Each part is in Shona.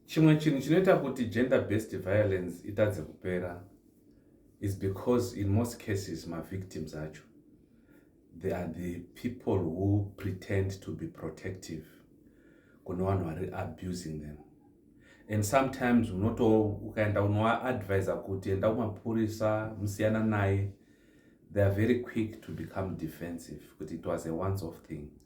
chimwe chinhu chinoita kuti gender based violence itadze kupera is because in most cases mavictims acho they are the people who pretend to be protective kune vanhu vari abusing them and sometimes unoto ukaenda unovaadvisa kuti enda kumapurisa musiyana naye they are very quick to become defensive kuti it was a once off thing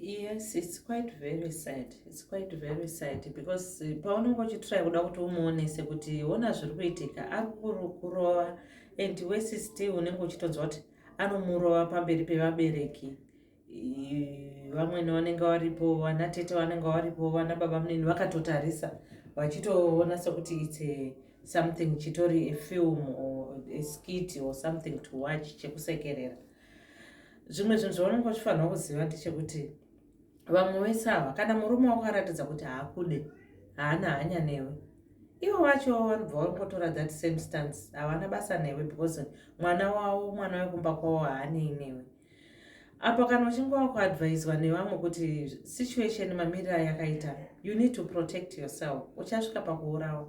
yes it's quite very sad it's quite very sad because eh, paunenge uchitry kuda kuti umuonese kuti ona zviri kuitika ari kurova and wese still unenge uchitonzwa kuti anomurova pamberi pevabereki vamwene vanenge varipo vana tete vanenge varipo vana baba munini vakatotarisa vachitoona sekuti its something chitori a film or a skit or something to watch chekusekerera zvimwe zvinhu zvaunenge uchifanirwa kuziva ndechekuti vamwe vese ava kana murume wako aratidza kuti haakude haana hanya newe ivo vacho vanobva vangotora that same stance havana basa newe because mwana wavo mwana wekumba kwavo haanei newe apa kana uchinge wakuadvaiswa nevamwe kuti situation mamirira yakaita you need to protect yourself uchasvika pakuurawa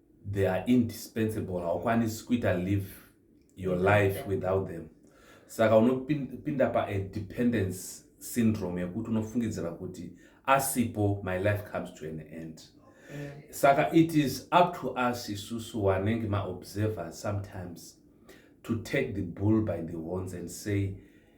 they are indispensable haukwanisi kuita live your life without them saka unopinda paadependence syndrome yekuti unofungidzira kuti asipo my life comes to an end mm. saka it is up to us isusu wanenge maobservers sometimes to take the bull by the horns and say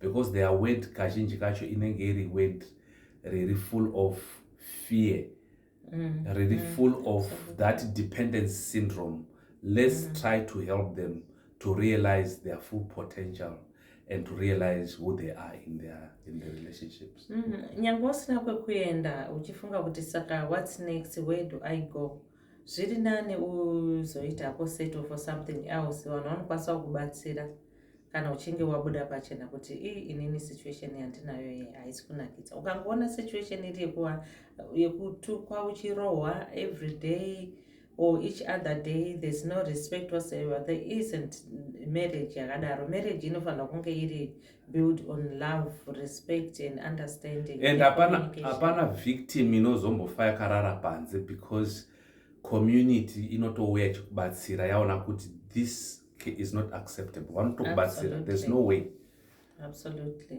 because their word kazhinji kacho inenge iri word riri full of fear mm. riri mm. full of that dependence syndrome let's mm. try to help them to realize their full potential and to realize who they are in their in the relationships mm-hmm. nyange usina kwekuenda uchifunga kuti saka what's next where do i go zviri nani uzoita ko settle for something else vanhu vanokwanisa kubatsira kana uchinge wabuda pachena kuti ii inini situation yandinayo iyi haisi kunakidza ukangoona situation iri yekuva yekutukwa uchirohwa every day or each other day there's no respect whatsoever there isn't marriage yakadaro marriage inofanira kunge iri build on love respect and understanding and hapana victim inozombofa yakarara panze because community inotouya ichikubatsira yaona kuti this is not acceptable vanotokubatsira there's no way absolutely